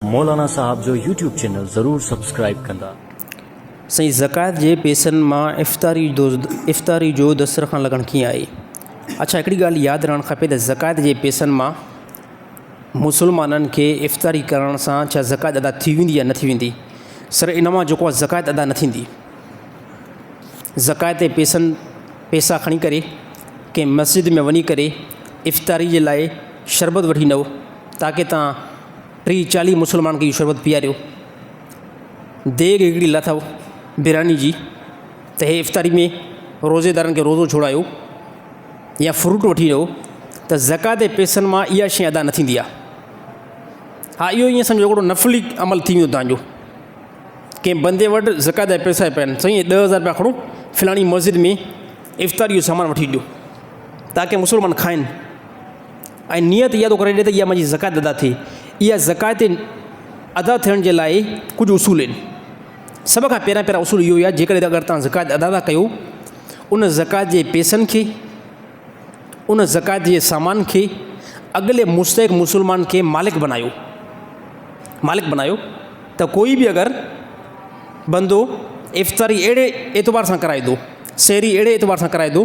مولانا صاحب جو YouTube channel ضرور سبسڪرائيب ڪندا. سائين زڪوات جي پيسن مان افطاري جو افطاري جو دسترخوان لڳڻ ڪيئن آهي اڇا هڪڙي ڳالهه ياد رهڻ کپي ته زڪوات جي پيسن مان مسلمانن کي افطاري ڪرڻ سان ڇا زڪوات ادا ٿي ويندي يا نه ٿي ويندي سر ان مان جوڪو زڪوات ادا نه ٿيندي زڪوات جي پيسن پيسا کڻي ڪري ڪنهن مسجد ۾ وڃي ڪري افطاري جي لاء شربت وٺي ايندو تاڪي تان ٽي چاليهه مسلمانن کي اهو شربت پياريو. ديڳ هڪڙي لٿو براني جي ته هي افطاري ۾ روزيدارن کي روزو ڇوڙايو يا فروٽ وٺي ڏيو ته زڪوات جي پئسن مان اها شيء ادا نه ٿيندي آهي. ها اهو ائين سمجهو هڪڙو نفلي عمل ٿي ويندو تنهنجو. ڪنهن بندي وٽ زڪوات جا پئسا پيا آهن، سائين ڏهه هزار رپيا کڻو فلاڻي مسجد ۾ افطاري جو سامان وٺي ڏيو تاڪي مسلمان کائن. ۽ نيت اها ٿو ڪري ڏي ته اها منهنجي زڪوات ادا ٿئي. اها زڪوات جي ادا ٿيڻ جي لاء ڪجهه اصول آهن. سڀ کان پهريان پهريان اصول اهو ئي آهي جيڪڏهن اگر توهان زڪوات ادا ٿا ڪيو ان زڪوات جي پيسن کي ان زڪوات جي سامان کي اڳلي مستحق مسلمان کي مالڪ بنايو مالڪ بنايو ته ڪوئي به اگر بندو افطاري اهڙي اعتبار سان ڪرائي ٿو سحري اهڙي اعتبار سان ڪرائي ٿو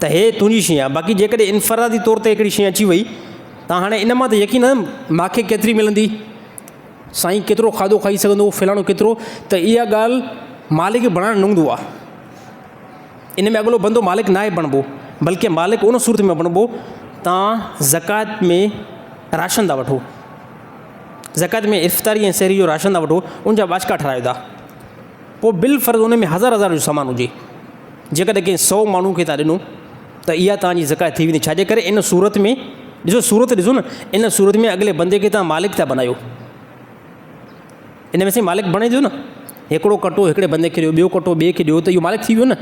ته هيء تنهنجي شيء آهي، باقي جيڪڏهن انفرادي طور تي هڪڙي شيء اچي وئي ته هاڻي ان مان ته يقين آهي نه، ماکي ڪيتري ملندي، سائين ڪيترو کاڌو کائي سگهندو، فلاڻو ڪيترو، ته اها ڳالهه مالڪ بڻائڻ نونگدو آهي. ان ۾ اڳلو بندو مالڪ ناهي بڻبو، بلڪه مالڪ ان صورت ۾ بڻبو توهان زڪوات ۾ راشن ٿا وٺو، زڪوات ۾ افطاري ۽ سحري جو راشن ٿا وٺو، ان جا ٻاجهڪا ٺهرايو ٿا. پوء بالفرض ان ۾ هزار هزار جو سامان هجي، جيڪڏهن ڪنهن سئو ماڻهو کي توهان ڏنو ته اها توهان جي زڪوات ٿي ويندي، ڇاجي ڪري ان صورت ۾ ڏسو صورت ڏسو نه ان صورت ۾ اڳلي بندي کي توهان مالڪ ٿا بنايو، ان ۾ سائين مالڪ بڻي ٿو نه، هڪڙو ڪٽو هڪڙي بندي کي ڏيو، ٻيو ڪٽو ٻئي کي ڏيو ته اهو مالڪ ٿي ويو نه،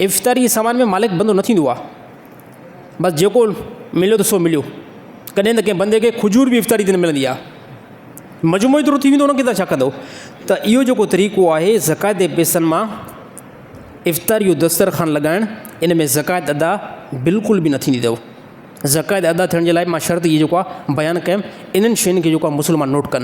افطاري جي سامان ۾ مالڪ بندو نه ٿيندو آهي. بس جيڪو مليو ته سو مليو. ڪڏهن ته ڪنهن بندي کي کجور به افطاري تي نه ملندي آهي. مجموعو ايترو ٿي ويندو ان کي تون ڇا ڪندو؟ ته اهو جيڪو طريقو آهي زڪوات جي پئسن مان افطاري جو دسترخوان لڳائڻ ان ۾ زڪوات ادا بلڪل به نه ٿيندي اٿو. زڪوات ادا ٿيڻ جي لاء مان شرط اهي جيڪو آهي بيان ڪيم انهن شين کي جيڪو آهي مسلمان نوٽ ڪن.